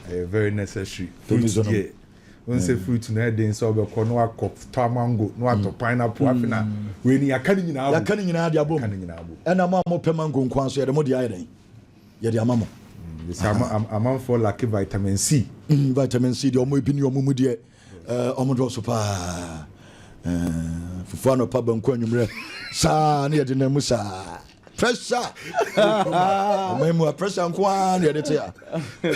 Ɛyɛ very necessary. Fruit deɛ, wohu sɛ fruit no ɛyɛ den sɛ wobɛkɔ na wakɔ tɔ mango na watɔ pineapple afei na wei no yɛaka ne nyinaa bom. Yɛaka ne nyinaa de abom. Yɛaka ne nyinaa bom. Ɛna mo a mopɛ mango nko ara nso yɛde mo deɛ ayɛ dɛn? Yɛde ama mo. Yɛsɛ ama amanfoɔ lacke vitamin C. Vitamin C deɛ wɔn ebi ni wɔn mu deɛ wɔn dɔɔso paa. Fufuo anɔpa banku anwummerɛ saa na yɛde nam mu saa. pressure ɔman mu a pressure nko ara na yɛde te a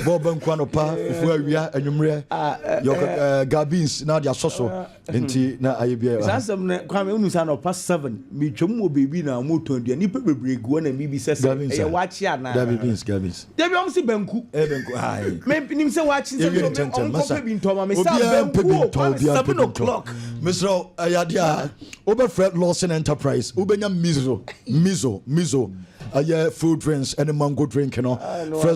bɔɔl ba nko anɔpa ofu awia anwummerɛ ah, eh, yɛ eh, eh, gabins na de asɔ so ah, hmm. nti na ayɛ biara saa asɛm no kwame wonu sɛ anɔpa 7 metwam wɔ baabi na ɔmotɔn aduane nnipa bebree gu hɔ na mbibi sɛ sɛ ɛyɛ wakye anaa dabi beans gabins dabi ɔm se banku menim sɛ wakye nsɛm ɔmkɔpɛ bi ntɔma mesɛ banku o kwame 7 o'clock mesrɛ ɛyɛ adeɛ a wobɛfrɛ Lawson Enterprise wobɛnya mizo mizo mizo ɛyɛ fruit drinks ɛne mango drink no ah, frɛ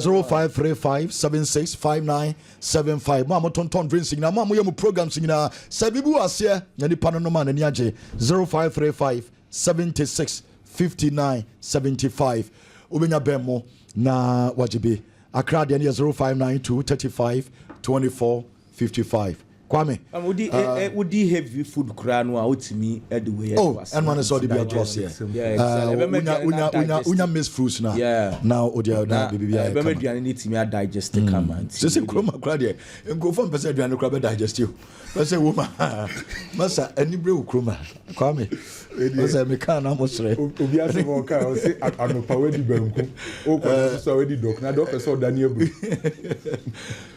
0535765975 mo a motontɔn drinks nyinaa mo a moyɛ mo programs nyinaa sɛ biribi wɔ aseɛ na nipa no nom a n'ani agye 0535 76 59 75 wobɛnya bɛn mo na wagye bi akra deɛ no yɛ 0592 35 24 fifty five Kwame ah. Wo di heavy food koraa no a wotumi de wei ato oh, ase. Oh, ɛno ne sɛ ɔde bi ato ase. Wonya wonya wonya wonya mixed fruits na. Na ɔde ɔda bibi ayɛ kama. Ɛbɛma aduane no tumi adigest hmm. kama nti. Sɛ sɛ kuroma kora deɛ nkurɔfoɔ mpɛ sɛ aduane kora bɛ digest o. Pɛ sɛ wo ma masa ani bere wo kuroma Kwame. Ɔsɛ mi kaa na mo srɛ. Obi asɛ ma ɔka ɔsɛ anopa wadi banku. Okɔ na soso a wadi dɔk na dɔk ɛsɛ ɔda ne aburo.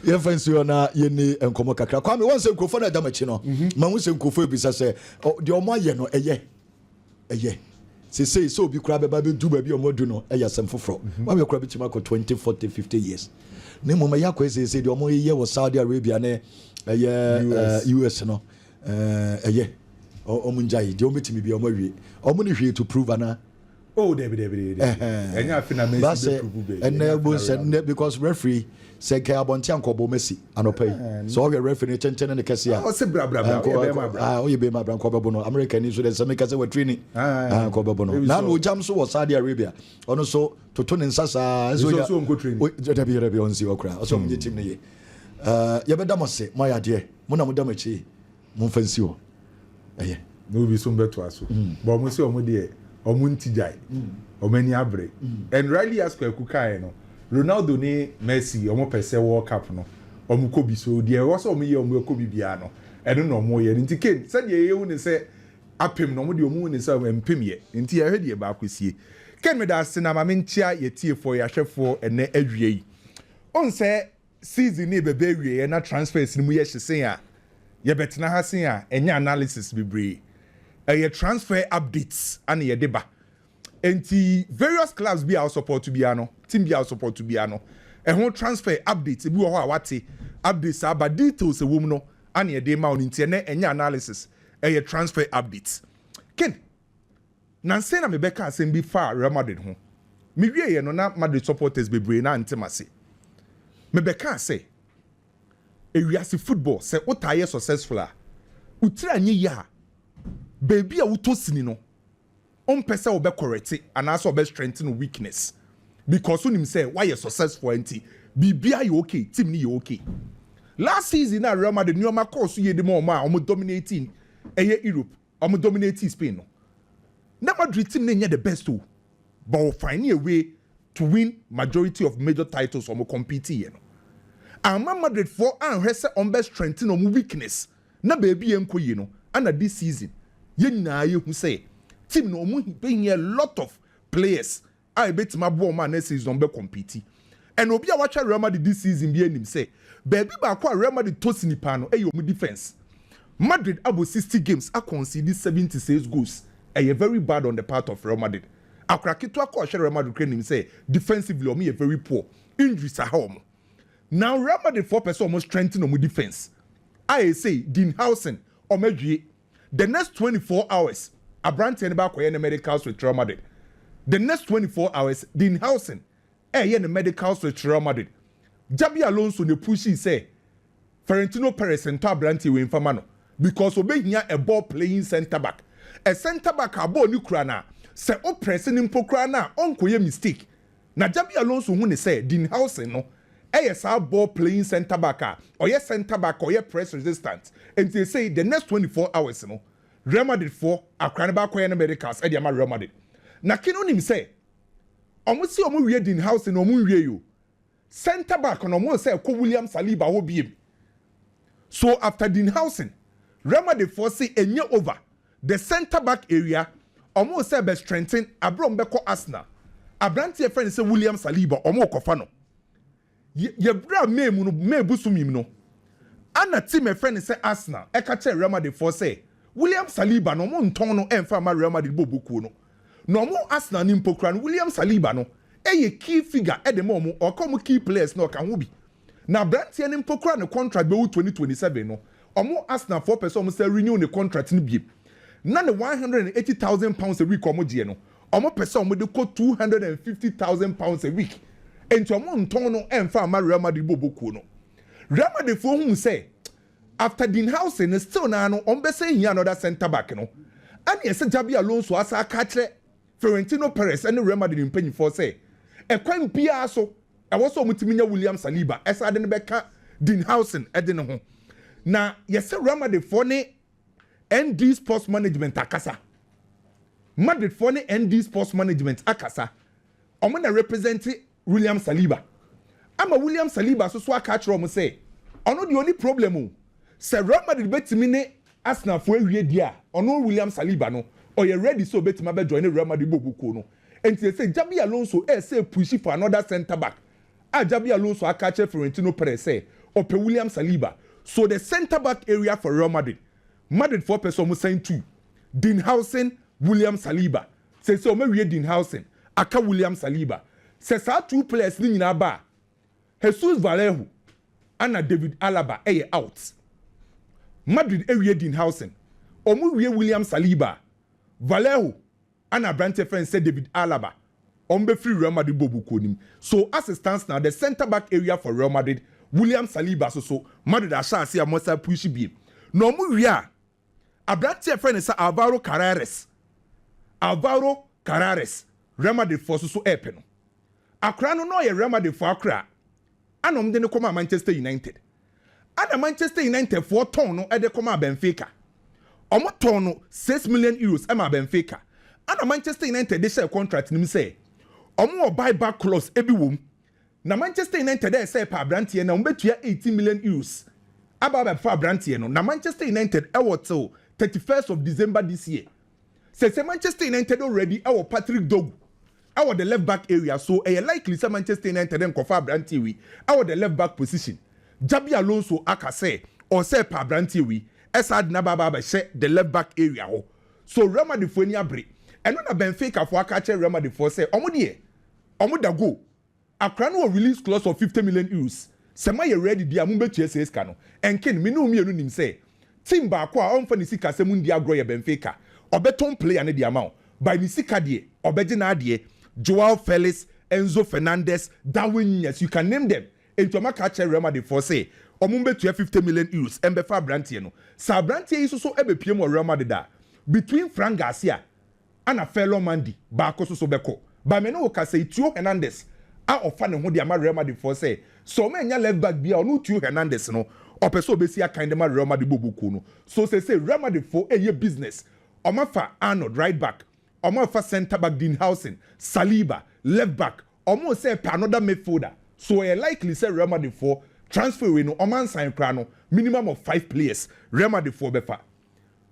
Yɛmfa nsi hɔ na yɛni nkɔmmɔ kakra. Kwame, wɔn sɛ nkurɔfoɔ no ɛda m'akyi no, mhm. ma ho sɛ nkurɔfoɔ ebisa sɛ deɛ wɔn ayɛ no ɛyɛ ɛyɛ sesei sɛ obi koraa bɛba bɛdu baabi a wɔadu no ɛyɛ asɛm foforɔ mhm. wabɛ koraa bɛtumi akɔ 20 40 50 years ne mmom ɛyɛ akɔɛ seesei deɛ wɔyɛ wɔ saudi arabia ne ɛyɛ us eh, no ɛyɛ eh, wɔn ngyae deɛ wɔn bɛtumi bia wɔn awie wɔn ne hwee to prove anaa Oh, Debbie, Debbie, Debbie. Uh-huh. And you feel na Messi be prove baby. And now boss, because referee said kaya bonti anko bo Messi anope. Uh-huh. So okay, referee ne chenchen ne kesi ya. Oh, se bra bra bra. Oh, be ma bra. Ah, oh, be ma bra ko be bono. America ni so de semi kase we training. Ah, ko be bono. Na no jam so was Saudi Arabia. Ono so toto ne nsa sa. So ya. So onko training. Oh, Debbie, Debbie onsi okra. So mo team ne ye. Uh, yɛbɛda mo ase mo ayɛ adeɛ mo na mo da mo akyi Momfa nsi hɔ. Ɛyɛ. No bi so mbɛtoa so but ɔmo se ɔmo deɛ ɔmo nti gyae ɔmo ani abere and rightly as Kwaku kaeɛ no Ronaldo ne Messi ɔmo pɛ sɛ world cup no ɔmo kɔ bi so deɛ ɛwɔ sɛ ɔmo yɛ ɔmo ɛkɔ bi biara no ɛno na ɔmo yɛ no nti Kane sɛdeɛ yɛhu ne sɛ apem no ɔmo deɛ ɔmo hu ne sɛ ɛmpem yɛ nti yɛhwɛ deɛ ɛbɛ akɔ sie Kane meda ase na ma menkyea yɛtiefoɔ yɛahwɛfoɔ ɛnɛ awia yi ɔn sɛ Season no rebɛba awieɛ na transfers no mu yɛ hye sen a, yɛbɛtena ha sen a ɛnyɛ analysis bebree. Ɛyɛ transfer updates na yɛde ba. Enti various clubs bi a wo support biara no, team bi a wo support biara no, ɛho transfer updates, ebi wɔ hɔ a woate, updates aba, details a ɛwɔ mu no na yɛde rema wo no. Enti ɛnnɛ ɛnyɛ analysis, ɛyɛ transfer updates. Ken. Nnansa yi na mebɛka asɛm bi faa Real Madrid ho. Mewieeɛ no, na Madrid supporters bebree no ara nte m'ase. Mebɛkaa sɛ, Ewiase football, sɛ wotaa yɛ successful a, wo tiri anyɛ yie a, baabi a wotɔ sini no, wompɛ sɛ wobɛkɔrɛte anaasɛ wobɛstrengthen wo weakness because wonim sɛ woayɛ successful ara nti, biribiara yɛ okay, team no yɛ okay. Last season no a Real Madrid nneɛma kɔɔ so yie de ma wɔn a wɔdominatee ɛyɛ Europe wɔn dominatii Spain no na Madrid team no nyɛ the best o but wɔ fine a way to win majority of major titles wɔn compete yɛ no amma Madrid foɔ anhwɛ sɛ wɔn bɛ strengthen wɔn weakness na baabi yɛ nkɔ yie no ɛna this season yɛn nyinaa yɛhu sɛ team no wɔn bɛ hia a lot of players a ebetumi aboa wɔn a next season wɔbɛ compete. Ɛna obi a w'ahwɛ Real Madrid this season biara nim sɛ baabi baako a Real Madrid tɔ sini paa no ɛyɛ wɔn defence. Madrid abɔ sixty games a concede seventy six goals ɛyɛ very bad on the part of Real Madrid. Akora ketewa koro a ɔhwɛ Real Madrid koraa nim sɛ defensively wɔn yɛ very poor. Injuries aha wɔn. Now Real Madrid foɔ pɛ sɛ wɔn strengthen wɔn defence a ɛsei Dean Howson wɔn awie. The next twenty four hours abranteɛ no bɛ akɔyɛ ne medicals with Real Madrid The next twenty four hours Dean Howson ɛɛyɛ ne medicals with Real Madrid Xabi Alonso na ɛpushii sɛ Ferentino Perez ntɔ abranteɛ wei mfa ma no because ɔbɛhia a ball playing centre back A centre back a ball no kura no a sɛ wo press no mpo koraa no a ɔnkɔyɛ mistake Na Xabi Alonso hu no sɛ Dean Howson no yɛ saa ball playing centre back a ɔyɛ centre back a ɔyɛ press resistant nti sesei the next twenty four hours no Real Madrid foɔ akora no bɛakɔyɛ no medicals de ama Real Madrid na Keane nim sɛ ɔmo se ɔmo wie Dean Howson no ɔmo nwiei o centre back no ɔmo nsa ɛkɔ William Saliba hɔ biem so after Dean Howson Real Madrid foɔ se ɛnyɛ over The centre back awia wɔn sɛ ɛbɛ strengthen abere wɔn bɛkɔ Arsenal aberanteɛ yɛfrɛ no sɛ William Saliba wɔn rekɔfa no yɛ yɛ bere a May mu no May bosom yi mu no ɛna team yɛfrɛ no sɛ Arsenal ɛka kyerɛ Real Madrid foɔ sɛ William Saliba no wɔn ntɔn no ɛnfa mma Real Madrid bɔ bɔ kuo no na wɔn Arsenal no mpo koraa no William Saliba no ɛyɛ key figure ɛde ma wɔn ɔka wɔn key players no ɔka ho bi Na abranteɛ no mpo koraa ne contract bɛwu twenty twenty seven no ɔmo Arsenal foɔ pɛ sɛ ɔmo san renew ne contract no biem na ne one hundred and eighty thousand pounds a week a ɔmo gyeɛ no ɔmo pɛ sɛ ɔmo de kɔ two hundred and fifty thousand pounds a week enti ɔmo ntɔn no ɛnfa mma Real Madrid bɔ ɔbɔ kuo no Real Madrid foɔ huu sɛ after Dean Howson no still naa no ɔmo bɛsan hia another centre back no ɛna ɛsɛ Xabi Alonso asan aka akyerɛ Florentino Perez ne Real Madrid mpanyimfoɔ sɛ ɛkwan biara so ɛwɔ sɛ wɔtumi nya William Saliba ɛsan de no bɛka Dean Howson de no ho. Na yɛsɛ Real Madridfoɔ ne ND Sports Management akasa. Madridfoɔ ne ND Sports Management akasa. Wɔn na represente William Saliba ama William Saliba nso so aka akyerɛ wɔn sɛ ɔno deɛ ɔnni problem o, sɛ Real Madrid bɛtumi ne Arsenal foɔ awie deɛ a, ɔno William Saliba no, ɔyɛ ready sɛ ɔbɛtumi abɛ joine Real Madrid bɔɔlbɔ kuo no. Enti seesei Xabi Alonso ɛresɛ ɛpushi for another centre back a Xabi Alonso aka akyerɛ Florentino Perez sɛ ɔpɛ William Saliba. So the centre back area for Real Madrid, Madrid foɔ pɛ sɛ wɔn sign to Dean Howson, William Saliba Seesei wɔawie Dean Howson, aka William Saliba. Sɛ saa two players no nyinaa ba a, Jesus Vallejo ɛna David Alaba yɛ out. Madrid awie Dean Howson, wɔwie William Saliba a, Vallejo ɛna aberanteɛ yɛfrɛ no sɛ David Alaba, wɔbɛfiri Real Madrid bɔɔlbɔkuo no mu. So as it stands now, the centre back area for Real Madrid, William Saliba soso, Madrid ahyɛ aseɛ a wɔasan puushi biem. Na wɔwie a, Aberante a yɛfrɛ no sɛ Alvaro Carreras, Alvaro Carreras, Real Madrid foɔ so so repɛ no. Akora no na ɔyɛ Real Madrid foɔ akora a ɛna wɔde no kɔmaa Manchester United. Ɛna Manchester United foɔ tɔn no de kɔmaa Benfica. Wɔtɔn no six million euros maa Benfica. Ɛna Manchester United de hyɛɛ contract no mu sɛ wɔwɔ buy back clause bi wɔ mu Na Manchester United ɛresɛ ɛpa abranteɛ no a wɔbɛtua eighteen million Euros aba abɛfa abranteɛ no na Manchester United ɛwɔ till thirty first of December this year. Sɛsɛ Manchester United already ɛwɔ Patrick Dorgu ɛwɔ the left back area so ɛyɛ likely sɛ Manchester United nkɔfa abranteɛ wei ɛwɔ the left back position. Xabi Alonso aka sɛ ɔresɛ ɛpa abranteɛ wei ɛsaa de no aba abɛhyɛ the left back area hɔ so Real Madridfoɔ ani abere ɛno na Benficafoɔ aka akyerɛ Real Madridfoɔ sɛ wɔn deɛ Ɔmo da go. Akora no wɔ release clause of fifty million euros. Sɛ mo ayɛ ready deɛ a, mo bɛtua saa sika no. Nken, me ne wo mmienu nim sɛ, team baako a ɔmfa ne sikasɛm ndi agorɔ yɛ Benfica. Ɔbɛtɔn player no de ama wo. By ne sika deɛ, ɔbɛgye n'adeɛ. Joao Felix, Enzo Fernandez, Darwin Nunez, you can name them. Enti ɔmo aka akyerɛ Real Madrid foɔ sɛ, ɔmo mbɛtua fifty million euros mbɛfa abranteɛ no. Sɛ abranteɛ yi soso ɛbɛpiem wɔ Real Madrid a, between Fran Garcia, ana Ferland Mendy baako so so bɛkɔ. Ba me ne wo ka sɛi, Tio Hernandez a ɔfa ne ho de ama Real Madrid foɔ sɛ, sɛ ɔmo annya left back biaa ɔno Tio Hernandez no ɔpɛ sɛ ɔbɛsi akan de ma Real Madrid bɔbɔ kuo no. So seesei Real Madrid foɔ ɛɛyɛ business, ɔmo afa Arnold, right back, ɔmo afa centre back Dean Howson, Saliba, left back, ɔmo resɛ ɛpɛ another midfielder. So ɛyɛ likely sɛ Real Madrid foɔ transfer wei no ɔmo ansan koraa no minimum of five players Real Madrid foɔ bɛfa.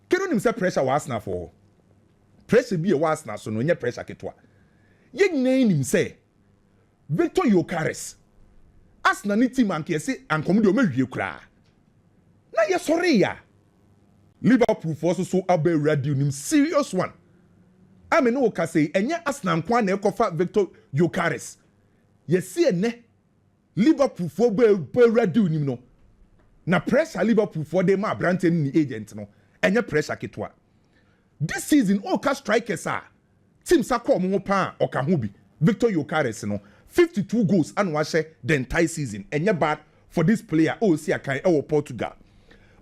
Ken wonim sɛ pressure wɔ Arsenal foɔ hɔ? Pressure bi a ɛwɔ Arsenal so no ɛnyɛ pressure ketewa. Yɛn nyinaa nim sɛ Victor Gyokeres, Arsenal ne team anka yɛse anka wɔn deɛ wɔn awie koraa. Na yɛsɔree a Liverpool foɔ nso so aba awura deal nim serious one. A me ne wo kasa yi ɛnyɛ Arsenal nko ara na ɛkɔfa Victor Gyokeres. Yɛse ɛnɛ Liverpool foɔ bɔ awura deal nim no, na pressure Liverpool foɔ de ma abranteɛ ne ne agent no, ɛnyɛ pressure ketewa. This season ɔreka strikers a team sa kɔ wɔn ho paa a, ɔka ho bi. Victor Gyokeres no, fifty two goals ana wahyɛ the entire season, ɛnyɛ bad for this player a ɔresi akan wɔ Portugal.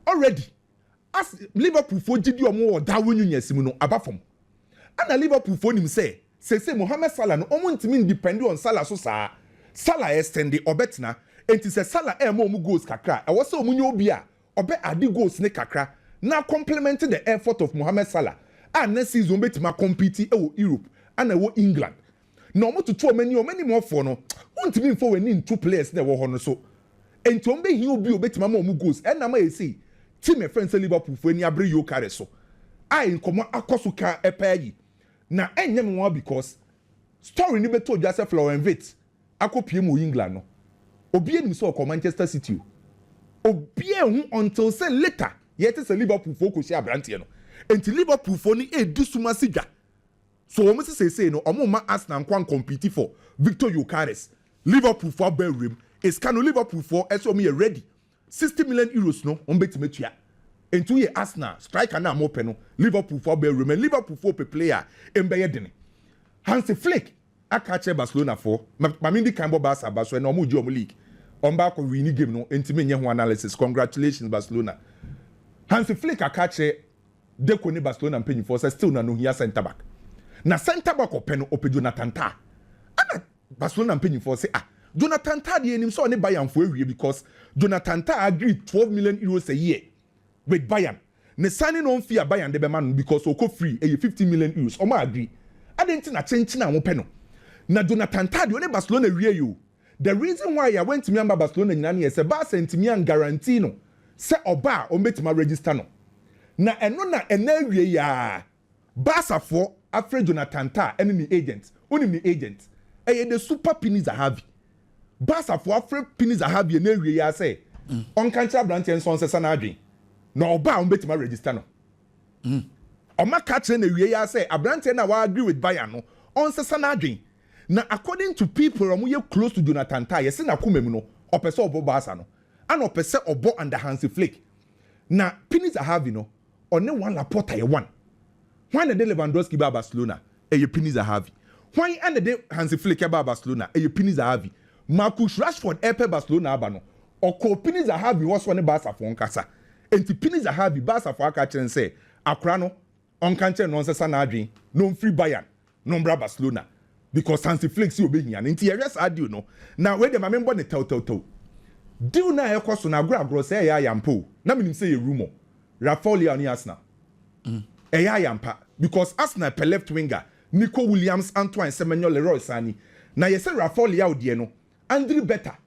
Already as Liverpool foɔ gyidie a wɔn wɔ wɔ Darwin Nunez mu no aba fam. Ɛna Liverpool foɔ nim sɛ Seesei Mohamed Salah no wɔn ntumi ndepɛnde on Salah so saa. Salah ɛsɛnde ɔbɛtena. Enti sɛ Salah ɛɛma wɔn goals kakra a, ɛwɔ sɛ wɔn nya obi a ɔbɛ adde goals no kakra na acompliment the effort of Mohamed Salah a nnɛ season ɔbɛtumi akɔmpiti ɛwɔ Europe ana ɛwɔ England na wɔn toto wɔn ani wɔn animɔfoɔ no wontumi nfa wɔn ani nto players na ɛwɔ hɔ no so enti wɔn bɛhia obi a ɔbɛtumi ama wɔn goals ɛna ama ɛsei team ɛfrɛ no sɛ Liverpool foɔ ani abere Yokeres so a nkɔmɔ akɔso kaa paa yi. Na ɛnyɛ me nwanwa because story no bɛtɔ dwa sɛ Florian Wirtz akɔ piem wɔ England no, obiara nim sɛ ɔkɔ Manchester City o. Obiara nhu until sɛ later yɛte sɛ Liverpool foɔ kɔhyia abranteɛ no. Enti Liverpool foɔ no ɛredi sum ase dwa. So wɔn se seesei no wɔn mma Arsenal nkɔ an compete for Victor Gyokeres. Liverpool foɔ abɔ awuram. It's ka no Liverpool foɔ ɛse wɔn yɛ ready Sixty million euros no wɔn betumi atua. Enti woyɛ Arsenal, striker no a mopɛ no, Liverpool fo abɔ awuram. Liverpool fo pɛ play a emu bɛyɛ den. Hansi Flick aka akyerɛ Barcelona fo, ma me ndi kan bɔ Barca aba so, ɛnna wɔregye wɔn league. Wɔn ba kɔ wiini game no, enti menyɛ ho analysis. Congratulations Barcelona. Hansi Flick aka akyerɛ Deco ne Barcelona mpanyimfoɔ sɛ still no anohia centre back. Na centre back ɔpɛ no, ɔpɛ Jonathan Tah. Ɛnna. Ba so na mpanyinfoɔ se ah Jonathan Tah deɛ yɛnim sɛ ɔne Bayern foɔ awie because Jonathan Tah agreed twelve million euros a year with Bayern ne signing on fee a Bayern de bɛma no no because ɔkɔ free ɛyɛ fifteen million euros ɔmo agree adɛn nti na kyenkyen a mopɛ no na Jonathan Tah deɛ ɔne Barcelona wiei o the reason why a wantumi amma Barcelona nyinaa no yɛ sɛ Barca antumi an guarantee no sɛ ɔba a ɔmo bɛtumi aregister no na ɛno na ɛnɛ awiei aa Baasafoɔ afrɛ Jonathan Tah ɛne ne agent. Wonim ne agent? Ɛyɛ the super Pini Zahavi. Baasafoɔ afrɛ Pini Zahavi ɛnnɛ awie yi ara sɛ ɔnka nkyerɛ aberanteɛ no sɛ ɔnsesa n'adwene na ɔba a wɔbɛtumi aregister no. Wɔaka akyerɛ no awie yi ara sɛ aberanteɛ no a wa-agree with Bayern no ɔnsesa n'adwene. Na according to people a wɔyɛ close to Jonathan Tah, yɛse n'akoma mu no ɔpɛ sɛ ɔbɔ Barca no. Ɛna ɔpɛ sɛ ɔbɔ under Hansi Flick. Na Pini Zahavi no Ɔne Juan Laporta yɛ one. Hwan na ɛde Lewandowski baa Barcelona? Ɛyɛ Pini Zahavi. Hwan na ɛde Hansi Flick baa Barcelona? Ɛyɛ Pini Zahavi. Marcus Rashford repɛ Barcelona aba no, ɔkɔɔ Pini Zahavi hɔ sɛ ɔne Barcafoɔ nkasa. Enti Pini Zahavi, Barcafoɔ aka akyerɛ no sɛ akwadaa no, ɔnka nkyerɛ no na ɔnsesa n'adwene na ɔmfiri Bayern. no mbra Barcelona because Hansi Flick se obehia no nti yɛhwɛ saa deal no na wei deɛ ma menbɔ no tɛwtɛwtɛw deal no a ɛkɔ so no agorɔ agorɔ sɛ ɛyɛ ayampa o na menim sɛ ɛyɛ rumour Rafael Leao ne Arsenal ɛyɛ ayampa because Arsenal pɛ left winger Nico Williams Antoine Semenyo Leroy Sani na yɛsɛ Rafael Leao deɛ no Andri Berta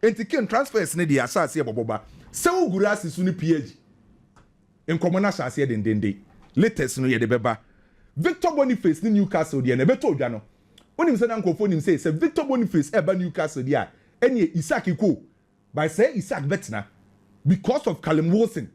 Enti kin transfers no deɛ ahyɛ aseɛ bɔbɔ ba sɛ wo gura ase so no phd nkɔmɔ no ahyɛ aseɛ dendenden latest no yɛde bɛba Victor Boniface ne Newcastle deɛ no ɛbɛtɔ odwa no wonim sɛ na nkorɔfoɔ nim sɛ sɛ Victor Boniface ɛba Newcastle deɛ a ɛneɛ Isak kɔ o but sɛɛ Isak bɛtena because of Callum Wilson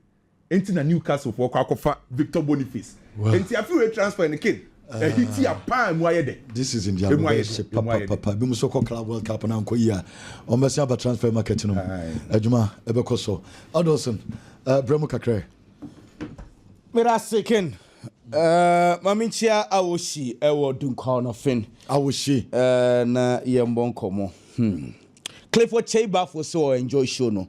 Enti na Newcastle foɔ kɔ akɔfa Victor Boniface. Enti afi wei transfer no kin ahiti a paa emu ayɛ dɛ. This season deɛ ano bɛyɛ hye papapapa. Ebinom nso kɔ club world cup no ankɔ yie a, wɔbɛsan aba transfer market no mu. Adwuma ɛbɛkɔ so. Adolson, brɛ mu kakra ɛ. Meda ase kin. Ma menkyia Awohyi wɔ Dunkwa Ɔnɔfen. Awohyi. Na yɛmmɔ nkɔmmɔ. Clifford Kyeiba fo se wɔ enjoy show no.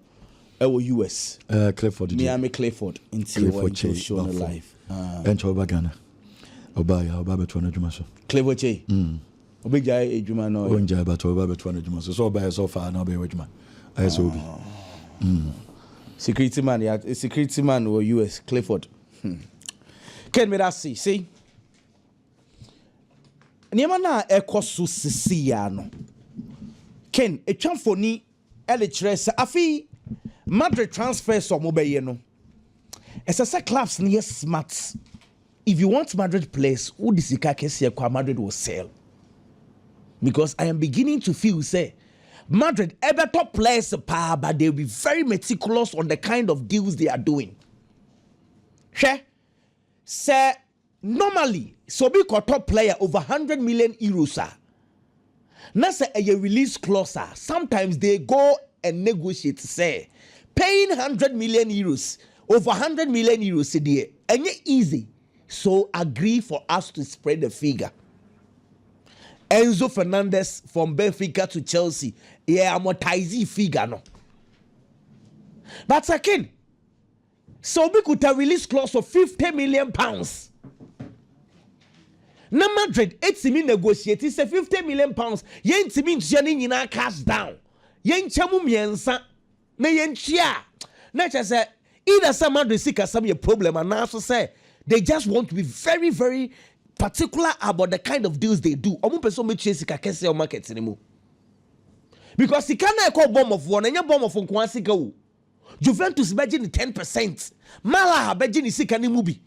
ɛwɔ US. Uh, eh, Clifford. Miami Clifford. Nti wɔ nti show no live. Ah. Ɛnkyɛ ɔba Ghana. Ɔba ya ɔba bɛtoa n'adwuma so. Clifford Che. Mm. Ɔbɛgyae adwuma no. Ɔngyae bɛtɔ ɔba bɛtoa n'adwuma so. Sɛ ɔba yɛ sɛ ɔfa na ɔbɛyɛ adwuma. Ayɛ sɛ obi. Ah. Mm. Security man ya security man wɔ US Clifford. Hmm. Ken me da se sei. Nneɛma no a ɛkɔ so sisi ya no. Ken, ɛtwa mfoni de kyerɛ sɛ afei Madrid transfers a wɔbɛyɛ no, ɛsɛ sɛ clubs no yɛ smart. If you want Madrid players, wode sika kɛseɛ kɔ a Madrid will sell. Because I am beginning to feel sɛ Madrid ɛbɛtɔ players paa but they will be very meticulous on the kind of deals they are doing. Hwɛ sɛ Normally sɛ obi kɔtɔ player over hundred million euros a, na sɛ ɛyɛ release clause a, sometimes they go and negotiate sɛ paying hundred million euros, over hundred million euros deɛ ɛnyɛ easy so agree for us to spread the figure. Enzo Fernandez from Benfica to Chelsea yɛ amortise figure no but again. Sɛ obi kuta release clause of fifty million pounds na Madrid etumi negotiate sɛ fifty million pounds yɛntumi ntua ne nyinaa cash down, yɛnkyɛ mu mmiɛnsa na yɛntua a, na kyerɛ sɛ either sɛ Madrid sikasɛm yɛ problem anaaso sɛ they just want to be very very particular about the kind of deals they do. Wɔn mpɛ sɛ wɔbɛtua sika kɛseɛ wɔ market no mu because sika no a ɛkɔ Bournemouth hɔ no ɛnyɛ Bournemouth nkoa sika o. Juventus bɛgye ne ten percent, Malaha bɛgye ne sika no mu bi.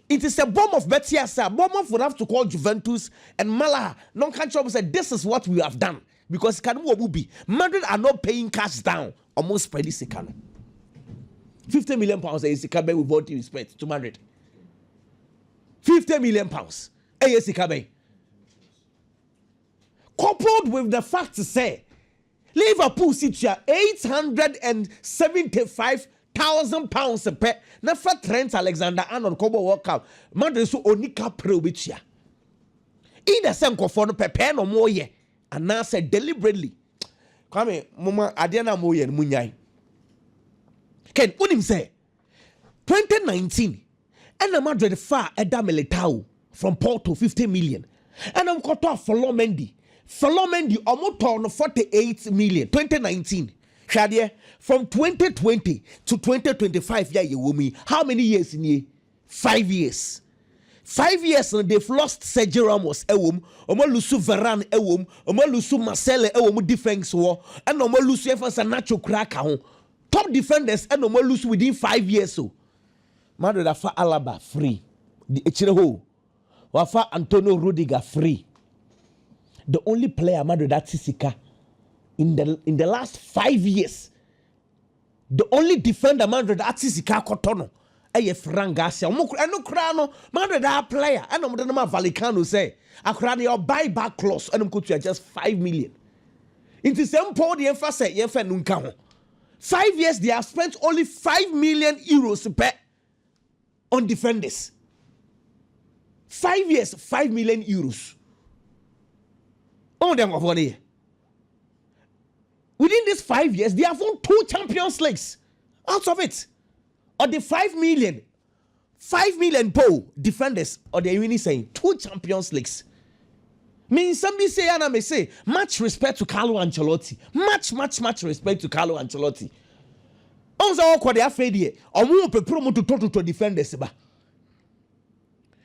Nti sɛ Bournemouth bɛte ase a, Bournemouth would have to call Juventus and Malaha na ɔnka nkyerɛ wɔn sɛ this is what we have done because sika no mu wɔ mu bi. Madrid are not paying cash down, wɔn nspreadi sika no. Fifty million pounds ɛyɛ sika bɛn with all due respect to Madrid? Fifty million pounds ɛyɛ sika bɛn? Coupled with the fact sɛ Liverpool si tua eight hundred and seventy five thousand pounds pɛ na fa Trent Alexander Arnold kɔbɔ World Cup ma de so ɔnni ka pere a ɔbɛtua. Either sɛ nkurɔfoɔ no pɛpɛɛ na wɔreyɛ anaasɛ deliberately. Kwame, moma adeɛ no a moreyɛ no monyae. Ken, wonim sɛ Twenty nineteen ɛna Madrid faa ɛda Militao from Porto fifty million ɛna wɔn kɔtɔ afɔlɔ Mendy fɔlɔ Mendy wɔn tɔɔ no forty eight million twenty nineteen hwɛ adeɛ from twenty twenty to twenty twenty five yɛ a yɛ wɔ mu yi how many years nie five years. Five years no they've lost Sergio Ramos ɛwɔ mu wɔn alusu Varane ɛwɔ mu wɔn alusu Marcelo ɛwɔ mu defence wɔ ɛna wɔn alusu yɛn fɛn sɛ Nacho kura ka ho. Top defenders ɛna ɔmo alusu within five years o. Madrid afa Alaba free de akyire hɔ o. Wafa Antonio Rudiger free. The only player Madrid ate sika in the in the last five years. The only defender Madrid ate sika akɔtɔ no Ɛyɛ frangaa sɛ wɔn kora ɛno koraa no Madrid a player ɛna wɔde no ma Valicano sɛ akora deɛ ɔbuy back clause ɛna wɔkɔtua just five million nti sɛ mpo deɛ mfa sɛ yɛmfa ɛno nka ho five years they have spent only five million euros pɛ on defenders five years five million euros ɔn deɛ nkɔfoɔ no yɛ within these five years they have won two champions leagues out of it Ɔde five million five million mpo o defenders ɔde awini sɛn two champions leagues me nsɛm bi sei ana me se much respect to Carlo Ancelotti much much much respect to Carlo Ancelotti ɔn sɛ ɔkɔ de afei deɛ ɔmo pepere ɔmo totɔtotɔ defenders ba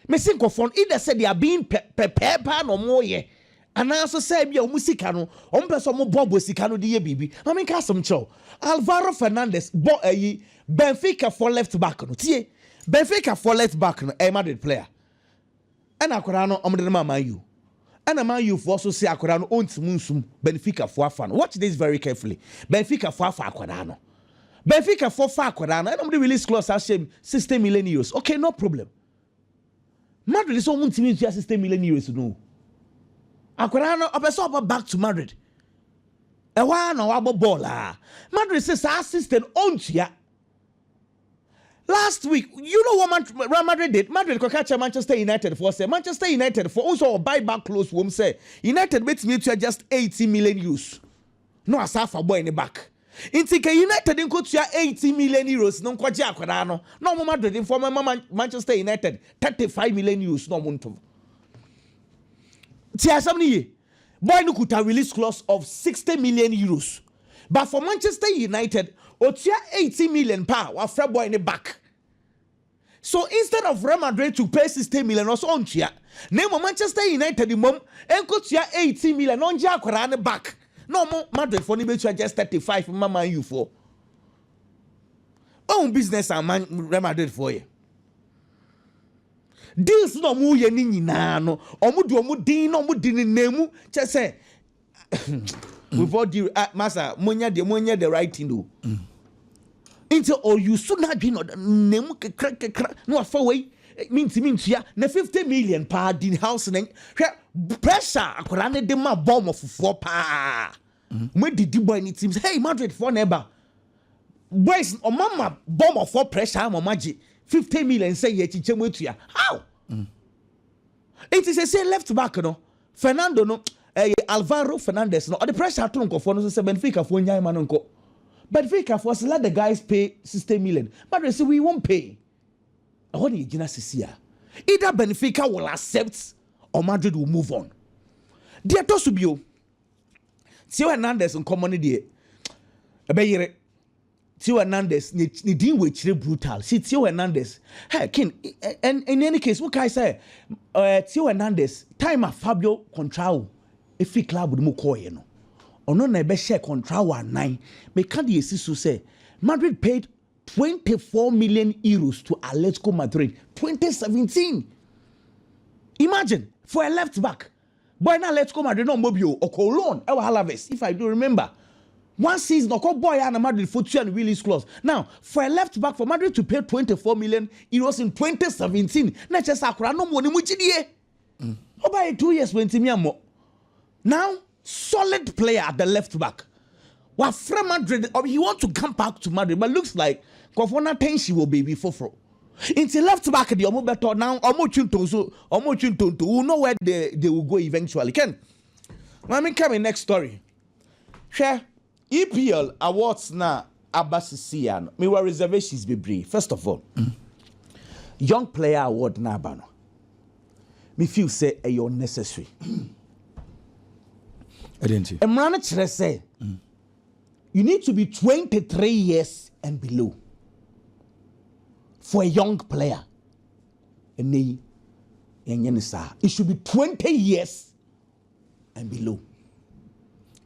Me se nkurɔfoɔ no either sɛ they are being pɛ pɛpɛɛ paa na wɔyɛ anaa nso sɛ ebia wɔn sika no wɔmpɛ sɛ wɔboaboa sika no de yɛ biribi. Ma menka asɛm nkyerɛ wo. Alvaro Fernandes bɔ ayi Benficafoɔ left back no. Tie! Benficafoɔ left back no ɛyɛ Madrid player. Ɛna akwadaa no wɔde no maa Man U. Ɛna man U foɔ so se akwadaa no ɔntim nsum Benfica foɔ afa no watch this very carefully Benfica foɔ afa akwadaa no Benfica foɔ fa akwadaa no ɛna ɔmo de release clause ahyɛ mu sixty million euros okay no problem Madrid sɛ ɔmo ntimi ntua sixty million euros no o akwadaa no ɔpɛ sɛ ɔba back to Madrid ɛhɔ ara na wabɔ bɔɔl a Madrid se saa sixty no ɔntua Last week, you know what Man- Real Madrid did? Madrid kɔka kyerɛ Manchester United foɔ sɛ Manchester United foɔ nso wɔ buy back close wɔm sɛ United bɛtumi atua just 80 million euros no asa afa boy ne back. Nti ka United nkɔtua 80 million euros no nkɔgye akwadaa no na ɔmo Madrid foɔ mɛma Man- Manchester United 35 million euros na ɔmo ntom. Ti asɛm no yie. Boy no kuta release clause of sixty million euros but for Manchester United otua eighteen million pɛ a wafrɛ boy no back. So instead of Real Madrid to pay sixty million ɔse ɔntua na mmom Manchester United mmom nkotua eighteen million na ɔngye akwadaa no back na ɔmo Madridfoɔ no bɛtua just thirty five mma Man U foɔ. Ɔhu business a Man Real Madridfoɔ yɛ. Deals na ɔmo yɛ ne nyinaa no ɔmo de ɔmo din na ɔmo de ne nan mu kyɛ sɛ with all due ah masa mo nya deɛ mo nyɛ the right thing o nti ɔyusu n'adwene na ɔde ne nan mu kekra kekra na wafa wei mi nti mi ntua na fifty million paa di house na hwɛ pressure akwadaa ne de ma bɔɔmɔfofoɔ paa. mo didi boy ne team hey madrid for na ɛba boys ɔma ma bɔmɔ for pressure ama ɔma gye fifty million sɛ yɛ kyikyɛ mu etua how nti sɛ sɛ left back no fernando no ɛyɛ eh, alvaro fernandez no ɔde pressure ato nkɔfoɔ no so sɛ benfica foɔ nyan ma no nkɔ benfica foɔ sɛ let the guys pay sixty million madrid sɛ we won't pay ɛhɔ ne yɛgyina sisi a either benfica will accept or madrid will move on deɛ ɛtɔ so bio Theo Hernandez nkɔmmɔ no deɛ, ɛbɛyere. Theo Hernandez, ne, ne din wɔ akyire brutal. See, Theo Hernandez. Hey, King, and in any case, wokae sɛ, uh, Theo Hernandez, time a Fabio Contrao ɛfiri club no mu kɔɔeɛ no, ɔno na ɛbɛhyɛ Contrao anan. Meka deɛ ɛsi so sɛ, Madrid paid 24 million euros to Atletico Madrid 2017. Imagine, for a left back. Bɔɔl no Atletico Madrid na ɔmmɔ bio, ɔkɔɔ loan wɔ Alaves if I do remember. One season ɔkɔ bɔɔl a na Madrid fo tua no release clause. Now for a left back for Madrid to pay twenty four million euros in twenty seventeen na ɛkyerɛ sɛ akwadaa nom wɔ ne mu gyidie. Ɔbaeɛ two years wantumi ammɔ. Now solid player at the left back. Wafrɛ Madrid, ɔ he want to come back to Madrid but looks like nkorɔfoɔ no attention wɔ baabi foforɔ. Nti left back deɛ ɔmo bɛtɔ na ɔmo twe ntonso, ɔmo twe ntonto, we will know where they, they will go eventually. Ken, ma me nka me next story. Hwɛ, EPL awards no a aba sisii a no, mewɔ reservations bebree. First of all, young player award no a aba no, me feel sɛ ɛyɛ unnecessary ɛdɛn ti mmara no kyerɛ sɛ you need to be 23 years and below for a young player ɛnɛ yi yɛnyɛ ne saa it should be 20 years and below.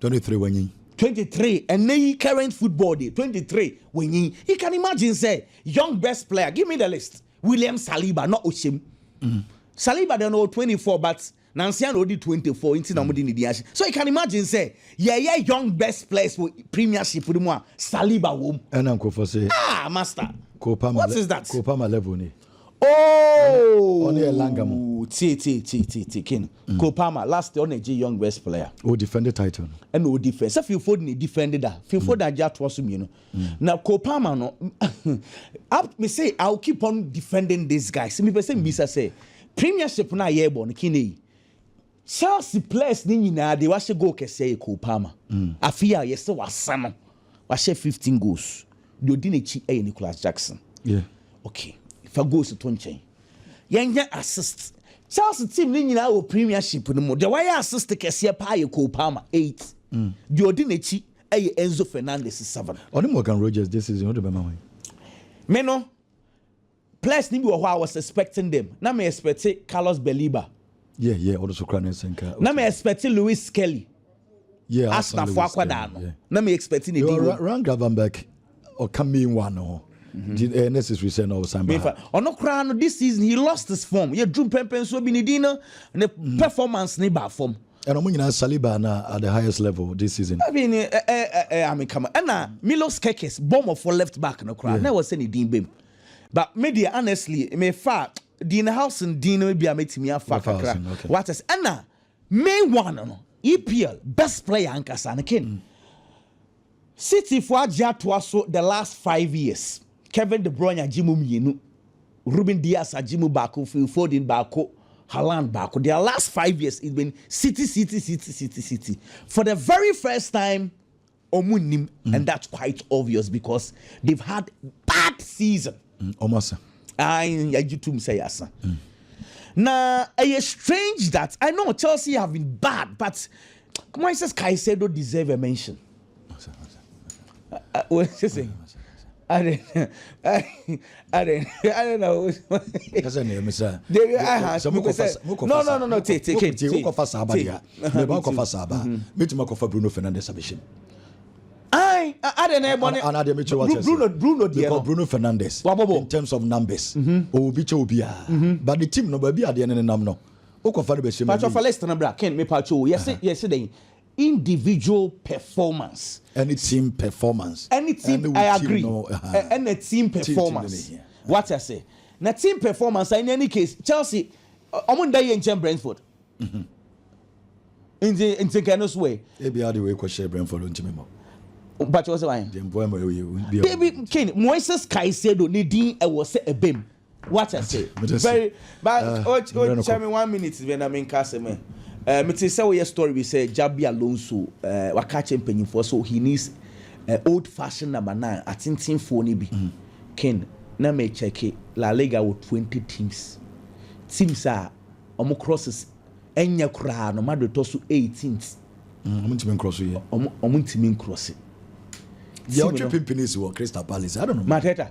23 wanyin. 23 and nay current football day 23 wanyin. You can imagine say young best player give me the list. William Saliba not Oshim. Mm. Saliba then all 24 but nansia na odi 24 nti na ɔmo di ne di ase so you can imagine sɛ yɛyɛ young best players wɔ premiership no mu a saliba wɔ mu. ɛna nkurɔfoɔ sɛ. ah master. kò pa ma what is that. kò pa ma level ni. Oh! Ɔno yɛ Langa mu. Tie tie tie tie tie kin. Mm. Cole Palmer last year ɔna gye young best player. O defend title no. Ɛna o defend. Sɛ Phil Foden na defend da. Phil mm. Foden agye atoa so mmienu. Mm. Na Cole Palmer no up me say I will keep on defending this guy. Sɛ mi pɛ sɛ mi bisa sɛ premiership na yɛ bɔ no kin eyi. Chelsea players no nyinaa deɛ wahyɛ goal kɛseɛ yɛ Cole Palmer, afe yi a yɛsɛ wasa no wahyɛ fifteen goals, deɛ ɔdi n'akyi yɛ Nicolas Jackson, ok fa goals to nkyɛn yɛnhwɛ assists, Chelsea team no nyinaa wɔ premiership no mu deɛ wayɛ assist kɛseɛ paa yɛ Cole Palmer, eight, deɛ ɔdi n'akyi yɛ Enzo Fernandez, seven. Ɔne Morgan Rogers this season wode bɛma wan? Me no. Players no bi wɔ hɔ a I was expecting them. Na me expect Carlos Baliba. Yeah, yeah, ɔno so kura ne nsa nka. Na me expect Lewis Skelly. Yeah, Arsenal fo akwadaa no. Na me expect ne di wɔ. Ryan Gravenberch ɔka main one no ho. Di eh, necessary sɛ na ɔsan ba. Ɔno koraa no this season he lost his form. Yɛ drum pɛmpɛn so bi ne din no ne mm. performance ne ba fam. ɛna ɔmo nyinaa saliba na at the highest level this season. I mean ɛ ɛ ɛ amikama ɛna milos kekes bɔmɔfo left back no koraa na ɛwɔ sɛ ne din bɛm. But me deɛ honestly me fa Dean Howson din no bi a mɛtumi afa kakra. Wate sɛ ɛna main one no EPL best player ankasa no Kane. City fo agye atoa so the last five years. Kevin De Bruyne agye mu mmienu. Ruben Dias agye mu baako, Phil Foden baako, Haaland baako. Their last five years it's been City, City, City, City, City. For the very first time Ɔmo nnim and that's quite obvious because they've had bad season. Mm, ɔmo asa. Ayi yagye tum sɛ yasa. Mm. Na ɛyɛ strange that I know Chelsea have been bad but Moises Caicedo deserve a mention. Asa, asa, asa. Uh, uh, what is he saying? Adɛn adɛn na o. Kasa na yɛmisa. Dewi aha sɛ mo kɔfa mo kɔfa. No no no no te te ke. Te mo kɔfa saa abade a. Me ba kɔfa saa ba. Me ti ma kɔfa Bruno Fernandes abɛhyɛ mu. Ai adɛn na ɛbɔ ne. Ana deɛ mekyerɛ wate. Bruno Bruno deɛ no. Bruno Fernandes. Wabɔbɔ. In terms of numbers. Ɔwɔ bi kyɛ obi a. But the team no baabi adeɛ ne ne nam no. Wokɔfa no bɛhyɛ mu. Pacho fa list no bra Ken me pacho yɛse yɛse dɛn. individual performance. Ɛne team performance. Ɛne team performance. I agree. Ɛne team performance. Wate ase. Na team performance in any case Chelsea ɔmo nda yɛ nkyɛn Brentford. Mhm. Nti nti nka ɛno so ɛ. Ebi adi wei kɔ hyɛ Brentford ntumi mɔ. Mpatsɛ ɔsɛ wɔn. Deɛ mpoa mu ɛwɔ yɛ. David Kane Moises Caicedo ne din ɛwɔ sɛ ɛbɛm. Wate ase? Very, but uh, oh, oh, tell me one minute, when I'm in Cassim. Uh, me te sɛ woyɛ story bi sɛ Jabi Alonso uh, waka kyɛ mpanyinfoɔ so he needs uh, old fashion number nine atentenfoɔ no bi mm. ken na mekyɛke La Liga wɔ 20 teams teams a wɔn crosses ɛnyɛ koraa no Madrid tɔ so 18th wɔn mm, ntumi nkorɔso yɛ wɔn ntumi nkorɔse yɛ ɔtwe pimpini si wɔ Crystal Palace I don't know Mateta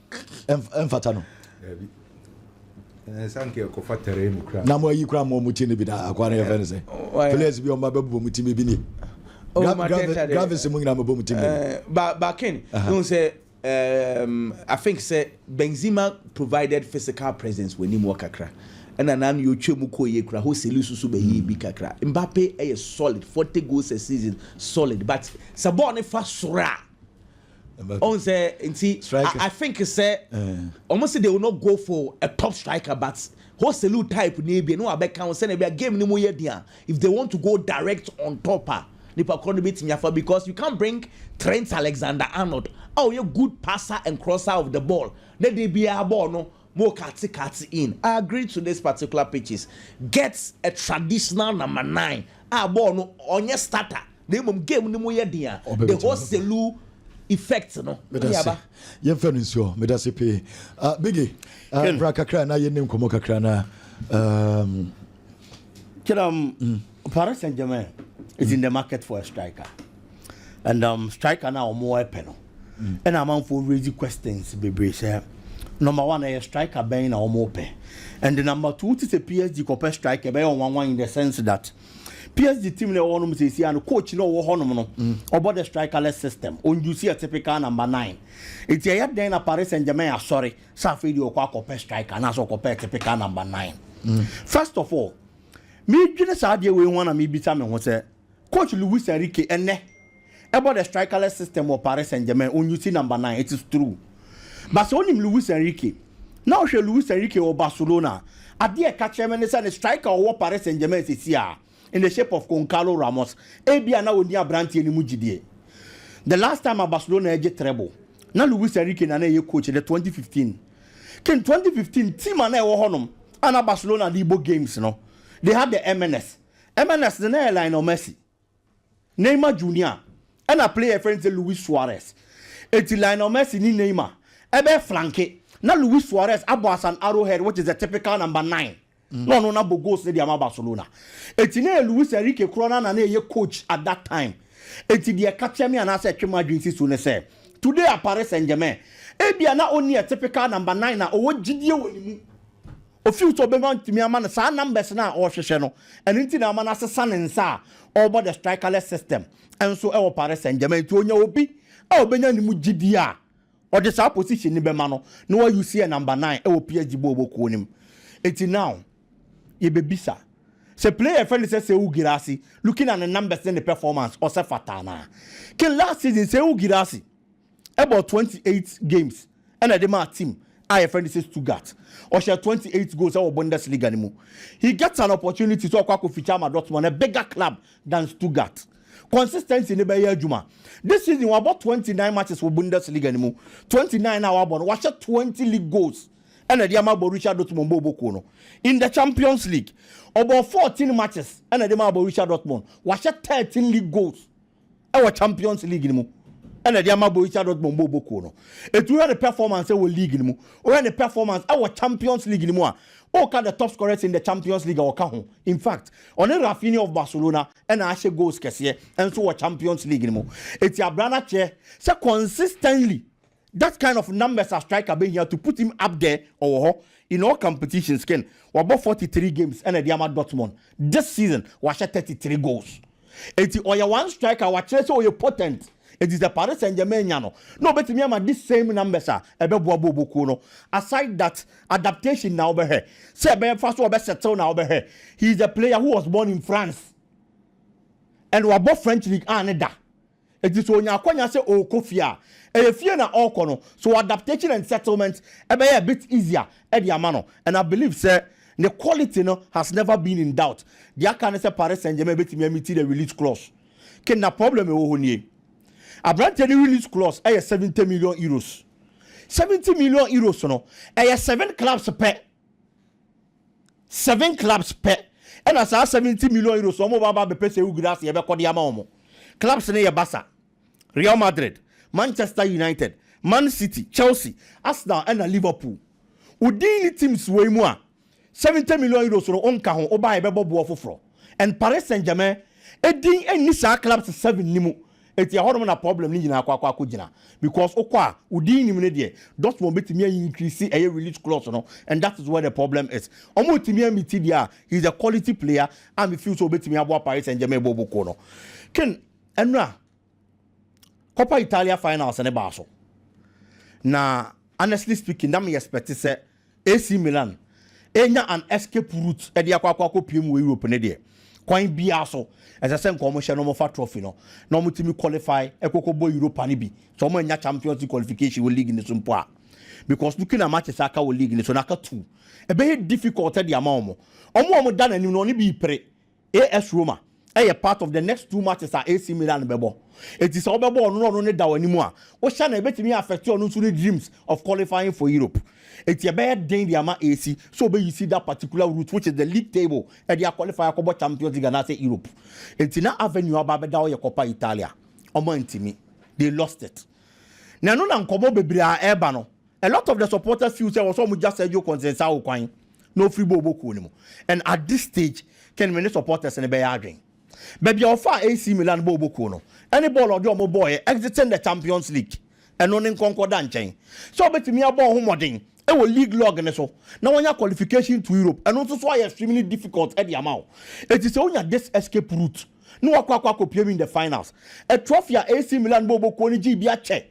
ɛmfata no na mo ayi kora ma ɔmo ti no bi da akoa no yɛfɛ no sɛ players bi ɔmo abɛbobɔ mo ti mi bi ni gravis mu nyinaa mɛbɔ mo ti mi bakin n sɛ um, I think sɛ Benzema provided physical presence wɔ anim wɔ kakra ɛna na ano yɛtwa mu kɔ yie kora Joselu soso bɛyɛ bi kakra Mbappe ɛyɛ solid forty goals a season solid but sɛ bɔɔl ne fa soro a Ohun sɛ nti I think sɛ wɔn se they will not go for a top striker but Joselu type no ebia na wabɛka ho sɛnea ebia game no mu yɛ den a if they want to go direct on top a nipa korɔ no betumi afa because you can't bring Trent Alexander-Arnold a ɔyɛ good passer and crosser of the ball na de biara bɔɔl no mo kate kate in I agree to this particular pitches get a traditional number nine a bɔɔl no ɔnyɛ starter. na mmom game no mu yɛ den a the whole selu effect no ɛde aba. yɛmfa no nsuo meda se pee uh, bigi uh, ah, bra kakra na yɛne nkɔmmɔ kakra na um... kiram mm. paris saint germain is mm. in the market for a striker and um, striker na wɔn ɛpɛ no ɛna amanfoɔ raise questions bebree sɛ number one ɛyɛ striker bɛn na wɔn pɛ and the number two ti sɛ psg kɔpɛ striker ɛbɛyɛ wɔn nwanwa in the sense that PSG team na ɛwɔ hɔnom seesie a no coach na ɔwɔ hɔnom no ɔbɔ the strikerless system ɔndusi a typical number nine eti ɛyɛ dɛn na Paris Saint-Germain asɔre sɛ afei deɛ ɔkɔ akɔpɛ striker anaasɛ ɔkɔpɛ typical number nine mm. first of all meedwene saa adeɛ wei ho na meebisa me ho sɛ coach Luis Enrique ɛnɛ bɔ the strikerless system wɔ Paris Saint-Germain, ɔnyi si number nine, it is true. But sɛ wonim Luis Enrique, na wohwɛ Luis Enrique wɔ Barcelona a, adeɛ a ɛka kyerɛ me ne sɛ ne striker a ɔwɔ Paris Saint-Germain sɛsi a, in the shape of Goncalo Ramos, ebia na ɔnni aberanteɛ no mu gyidie. The last time a Barcelona gye treble, na Luis Enrique na na ɛyɛ coach, the 2015 kin 2015 team a na ɛwɔ hɔnom a na Barcelona de rebɔ games no, they had the MNS. MNS no na ɛyɛ Lionel Messi. Neymar Junior na player a yɛfrɛ no sɛ Luis Suarez. Enti Lionel Messi ne Neymar bɛ flanke na Luis Suarez abɔ asan Arrowhead which is the typical number nine na ɔno na bɔ goals no de ama Barcelona. Enti na ɛyɛ Luis Enrique koraa no ara na ɛyɛ coach at that time. Enti deɛ ɛka kyerɛ me anaasɛ ɛtwe m'adwene si so ne sɛ today at Paris Saint-Germain ebia na ɔnni a typical number nine a ɔwɔ gyidie wɔ ne mu. Ɔfeel sɛ ɔbɛhwɛ antumi ama no saa numbers no a ɔrehwehwɛ no, ɛno nti na ama no asesa ne nsa a ɔrebɔ the strikerless system nso wɔ Paris Saint Germain. Nti ɔnya obi a ɔbɛnya ne mu gyidie a ɔde saa position no bɛma no na wa use yɛ number nine wɔ PSG bɔɔl bɔ kuo no mu. Nti now yɛbɛbisa sɛ player a yɛfrɛ no sɛ Seou Guirassy looking at ne numbers ne ne performance ɔsɛ fata anaa? Ken last season Seou Guirassy bɔɔ twenty eight games na ɛde maa team a yɛfrɛ no sɛ Stuttgart. Ɔhyɛɛ twenty eight goals wɔ Bundesliga no mu. He gets an opportunity sɛ ɔkɔ akɔ feature ama Dortmund, a bigger club than Stuttgart. Consistency no bɛyɛ adwuma. This season wabɔ twenty nine matches wɔ Bundesliga no mu. Twenty nine a wabɔ no, wahyɛ twenty league goals na ɛde ama Borussia Dortmund bɔɔlbɔ kuo no. In the Champions League, ɔbɔɔ fourteen matches na ɛde maa Borussia Dortmund. Wahyɛ thirteen league goals. wɔ Champions League no mu na ɛde ama Borussia Dortmund bɔɔlbɔ kuo no. Ɛti wohwɛ ne performance wɔ league no mu, wohwɛ ne performance wɔ Champions League no mu a, woka the top scorers in the Champions League a ɔka ho. In fact, ɔne Raphinha of Barcelona na ahyɛ goals kɛseɛ nso wɔ Champions League no mu. Ɛti abra no akyerɛ sɛ consistently That kind of numbers a striker bɛhia to put him up there ɔwɔ hɔ in all competitions ken wabɔ forty three games ɛna de ama Dortmund this season wahyɛ thirty three goals enti ɔyɛ one striker a wakyerɛ sɛ ɔyɛ potent enti sɛ Paris Saint Germain nya no na ɔbɛtumi ama this same numbers a ɛbɛboa booboo kuo no aside that adaptation na wobɛhwɛ sɛ ɛbɛfa so ɔbɛ settle na wobɛhwɛ he is a player who was born in France and wabɔ French league a ne da Enti sɛ onya akwanya sɛ ɔrekɔ fie a, ɛyɛ fie na ɔrekɔ no, so adaptation and settlement bɛyɛ a bit easier de ama no, and I believe sɛ ne quality no has never been in doubt. Deɛ aka ne sɛ Paris Saint-Germain bɛtumi a meet the release clause. Ke na problem a ɛwɔ hɔ nie. Aberanteɛ no release clause yɛ seventy million euros. Seventy million euros no, ɛyɛ seven clubs pɛ. Seven clubs pɛ na saa seventy million euros a wɔn aba abɛpɛ Sehoul Guirassy ɛbɛkɔ de ama wɔn. Clubs no yɛ Barca, Real Madrid, Manchester United, Man City, Chelsea, Arsenal ɛna Liverpool. Wo din ne teams wei mu a, seventy million euros no wonka ho, woba a yɛbɛbɔ boɔ foforɔ. And Paris Saint Germain din nni saa clubs seven no mu. Enti ɛhɔ nom na problem no nyinaa kɔ akɔ gyina because wokɔ a wo din nnim no deɛ Dortmund bɛtumi a increase ɛyɛ release clause no and that is where the problem is. Wɔn ntumi a meeti deɛ a he is a quality player a me feel sɛ ɔbɛtumi aboa Paris Saint Germain bɔ ɔbɔ kuo no. Ken, ɛnora Coppa Italia finals no baa so na honestly speaking na me expect sɛ AC Milan nya an escape route de akɔ akɔ akɔpue mu wɔ Europe ne deɛ, kwan biara so ɛsɛ sɛ nka wɔhyɛ na wɔfa trophy no na wɔtumi qualify kɔ kɔbɔ Europa no bi, sɛ wɔannya Champions League qualification wɔ league no so mpo a, because looking at matches a aka wɔ league no so no aka two, ɛbɛyɛ difficult de ama wɔn. Wɔn a wɔda n'anim no wɔn no bi repere AS Roma yɛ part of the next two matches a AC Milan bɛbɔ, enti sɛ wobɛbɔ ɔno na ɔno ne da w'anim a, wohyɛ no a ebetumi affect ɔno nso ne dreams of qualifying for Europe. Enti ɛbɛyɛ den de ama AC sɛ obeyisi that particular route which is the league table de aqualify akɔbɔ Champions League anaasɛ Europe. Enti na avenue a ɔba abɛda hɔ yɛ Coppa Italia. Wɔantumi. They lost it. Na ɛno na nkɔmmɔ bebree a ɛreba no, A lot of the supporters feel sɛ ɛwɔ sɛ wɔgya Sergio Conceição kwan na ɔfiri Bobo kuo no mu and at this stage Ken me ne supporters no bɛyɛ adwene. Baabi a ɔfaa AC Milan Bobo kuo no ne bɔɔl a ɔde wɔn bɔeɛ exiting the Champions League ɛno ne nkɔnkɔ da nkyɛn sɛ ɔbɛtumi abɔ ne ho mmɔden wɔ league log no so na wanya qualification to Europe ɛno nso so ayɛ extremely difficult de ama wo enti sɛ wonya this escape route na wakɔ akɔ akɔpiem in the finals a trophy a AC Milan Bobo kuo no gyee bi akyɛ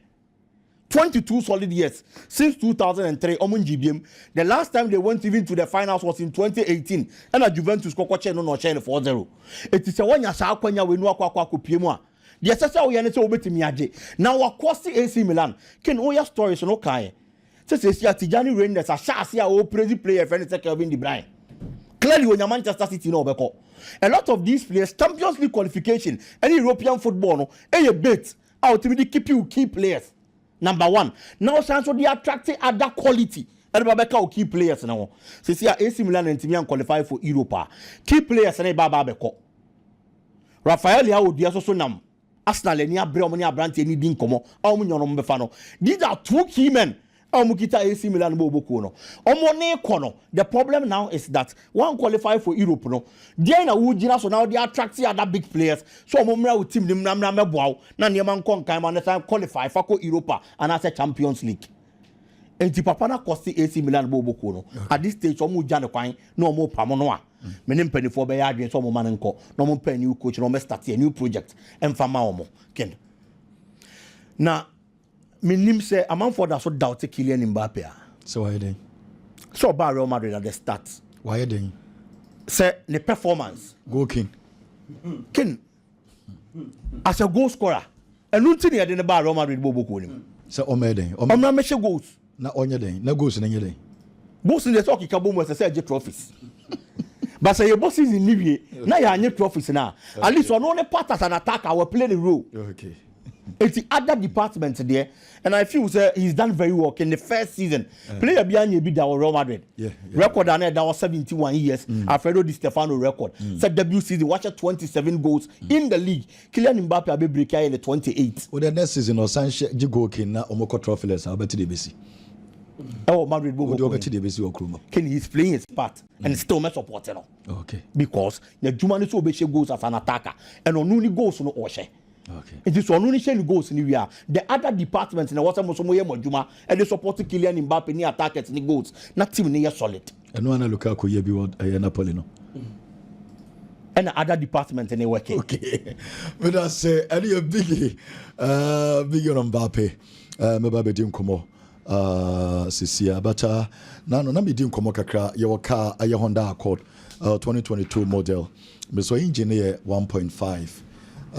Twenty two solid years since two thousand and three ɔmo ngye biem the last time they went even to the finals was in twenty eighteen ɛna Juventus kɔkɔ kyee no na ɔhyɛɛ no four zero eti sɛ wanya saa akwanya wei na wakɔ akɔ akɔpue mu a deɛ ɛsɛ sɛ woyɛ ne sɛ wobɛtumi agye na wakɔ se AC Milan ken woyɛ stories no kaeɛ sɛ sɛsi a Tijani Reinders ahyɛ ase a ɔɔprezi player ɛfrɛ ne sɛ Kelvin De Bruyne clearly onya Manchester City na ɔbɛkɔ a lot of these players Champions League qualification ɛne European football no ɛyɛ bait a ɔtumi de keep wo key players number one na ɔsan nso de attract other quality ɛde ba bɛka wo key players no ho sisi a AC Milan na ntumi an qualify for Europe a key players no ɛba aba bɛkɔ Rafael Leao odua so so nam Arsenal ani abrɛ wɔn ne aberanteɛ no di nkɔmɔ a wɔn nyɛ wɔn bɛfa no these are two key men a wɔkita AC Milan bɔ wɔbɔ kuo no wɔne rekɔ no the problem now is that wɔn qualify for Europe no deɛn na wogyina so na wɔde attract other big players sɛ wɔn mmra wo team no mmra mmra mmɛboa wo na nneɛma nkɔ nkan ma ne san qualify fa kɔ Europa anaasɛ Champions League nti papa no akɔste AC Milan bɔ wɔbɔ kuo no at this stage wɔn regya ne kwan na wɔn repam no a me ne mpanimfoɔ bɛyɛ adwene sɛ wɔn ma no nkɔ na wɔn pɛ new coach na wɔn start a new project mfa ma wɔn ken na Mennim sɛ amanfoɔ da so doubte Kylian Mbappe a. Sɛ wayɛ dɛn? Sɛ ɔbaa Real Madrid at the start. Wayɛ dɛn? Sɛ ne performance. Goal king. King. As a goal scorer. Ɛno nti na yɛde no baa Real Madrid bɔɔl bokuo no mu. Sɛ ɔmmɛyɛ dɛn? Ɔmmra mmɛhyɛ goals. Na ɔnyɛ dɛn? Na goals no nyɛ dɛn? Goals no deɛ sɛ ɔkeka bɔ mu ɛsɛ sɛ ɛgye trophies. But sɛ yɛbɔ season no wie na yɛanyɛ trophies no a, at least ɔno ne part as an attacker wɔ play ne role. Okay. Eti other department deɛ, and I feel sɛ he's done very well in the first season. Uh. Player bi anyɛ bi da wɔ Real Madrid. Yeah, yeah. Record a na ɛda hɔ 71 years. Mm. Alfredo Di Stefano record. Mm. Sɛ debut season wahyɛ 27 goals mm. in the league. Kylian Mbappe abɛbreki ayɛ ne 28. Wo dɛ next season no ɔsan hyɛ gye goal king na ɔmo kɔ trophyles a wobɛte deɛ ɛbɛsi. Ɛwɔ Madrid bɔ goal king. Wode wobɛte deɛ ɛbɛsi wɔ kuro mu. King he's playing his part mm. and still mɛ support no. Okay. Because na juma no so ɔbɛhyɛ goals as an attacker and ɔno ni goals no ɔhyɛ. Okay. It is ɔno ni hyɛ ni goals ni wia. The other department na wɔsɛ mo so mo yɛ mo adwuma ɛde support Kylian Mbappe ni attackers ni goals na team ni yɛ solid. Ɛno ara na Luka kɔ yɛ bi wɔ ɛyɛ Napoli no. Ɛna ada department ne wɛke. Okay. Meda sɛ ɛne yɛ bigi uh, bigi ɔnɔ Mbappe uh, mɛba bɛdi nkɔmmɔ uh, sesia but uh, na no na medi nkɔmmɔ kakra yɛwɔ car ɛyɛ Honda Accord uh, 2022 model mesɔ engine no yɛ 1.5 uh,